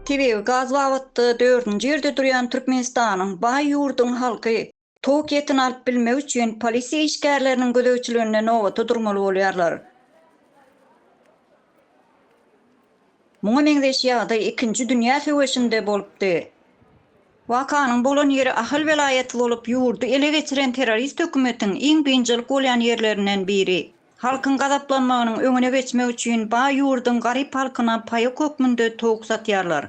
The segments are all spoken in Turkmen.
Tebigy gaz babatda dördünji ýerde durýan Türkmenistanyň baý ýurduň halky tok etini alyp bilmek üçin polisiýa işgärleriniň gözegçiliginde nobata durmaly bolýarlar. Muňa meňzeş ýagdaý Ikinji dünýä söweşinde bolupdy. Wakanyň bolan ýeri Ahal welaýaty bolup, ýurdy ele geçiren terrorist hökümetiň iň biynjalyk bolýan ýerlerinden biri. Halkyň gazaplanmagynyň öňüne geçmek üçin baý ýurduň garyp halkyna paýok hökmünde towuk satýarlar.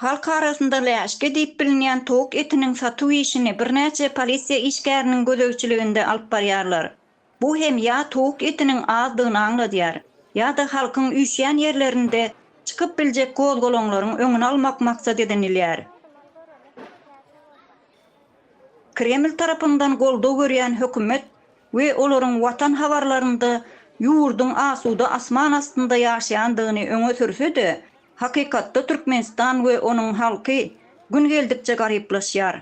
Halk arasynda läşki diýip bilinýän towuk etiniň satuw işini birnäçe polisiýa işgäriniň gözegçiliginde alyp barýarlar. Bu hem ýa towuk etiniň azdygyny aňladýar, ýa-da halkyň üýşýän ýerlerinde çykyp biljek gozgalaňlaryň öňüni almak maksat edinilýär. Kreml tarapyndan goldaw görýän hökümet we olaryň Watan habarlarynda ýurduň asuda asman astynda ýaşaýandygyny öňe sürse-de, hakykatda Türkmenistan we onuň halky gün geldikçe garyplaşýar.